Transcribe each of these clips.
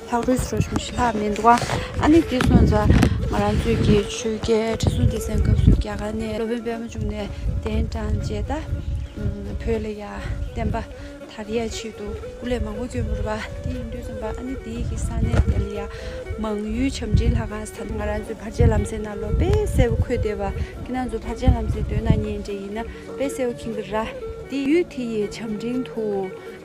ལྷག་རོལ་དུ་རོ་ཆུང་ཞི་ལྷག་མི་འདུག་ཨ་ནི་ཀྱེ་གསུངས་ཙང། ང་རང་ཚོས་ཀྱི་ཆོས་རྒྱལ་ཁྲི་སྲོང་ལྡེ་བཙན་སྐབས་སུ་རྒྱ་གར་ནས་སློབ་དཔོན་དཔལ་མོ་བྱུང་ནས་གདན་དྲངས་རྗེས་ད་བོད་ལ་ཡར་བསྟན་པ་དར་ཡས་ཆེད་དུ་སྐུ་ལས་མང་པོ་བསྐྱོན་འབུར་བ་དེ་ཡིན་དུས་རྩོམ་པ་ཨ་ནི་དེའི་གི་ས་གནས་དེ་ལ་ཡར་མང་ཡུལ་བྱམས་འབྲིང་ལྷ་ཁང་ས་ང་རང་ཚོའི་བར་ཆད་ལམ་སེང་ན་ལོ་དཔལ་སེ་བོ་ཁོས་བལྟས་པ་ཀྱི་ན་ཚོ་བར་ཆད་ལམ་སེང་སྟོད་ན་ཉེ་འབྲེལ་ཡིན་ན་དཔལ་སེ་བོ་གིང་གི་ར་དེ་ཡུལ་དེ་ཡི་བྱམས་འབྲིང་དུ།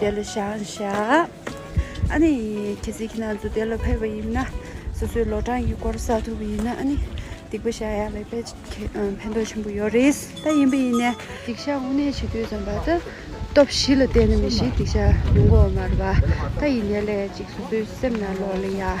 དེ་ལ་བྱང་བཞག་ཨ་ནི་ཁྱེད་ཚེ་ཁྱེད་ན་ཚོ་དེ་ལ་ཕེབས་པ་ཡིན་ན་སོ་སོའི་ལོ་གྲངས་ཀྱི་སྐོར་གསལ་ཐུབ་པ་ཡིན་ན་ཨ་ནི་སྡིག་པ་བཤགས་ཡག་ལས་པས་ཕན་ཐོགས་ཆེན་པོ་ཡོད་རེད་ད་ཡིན་པ་ཡིན་ནས་སྡིག་བཤགས་དངོས་གནས་བྱེད་དུས་ཙམ་པ་ད་སྟོབས་བཞི་ལ་བརྟེན་ན་མི་ཞིག་སྡིག་བཤགས་མྱོང་གོ་མ་རེད་པ་ད་ཡིན་ནས་ལས་གཅིག་སོ་སོའི་སེམས་ན་ལོག་ལེ་ཡག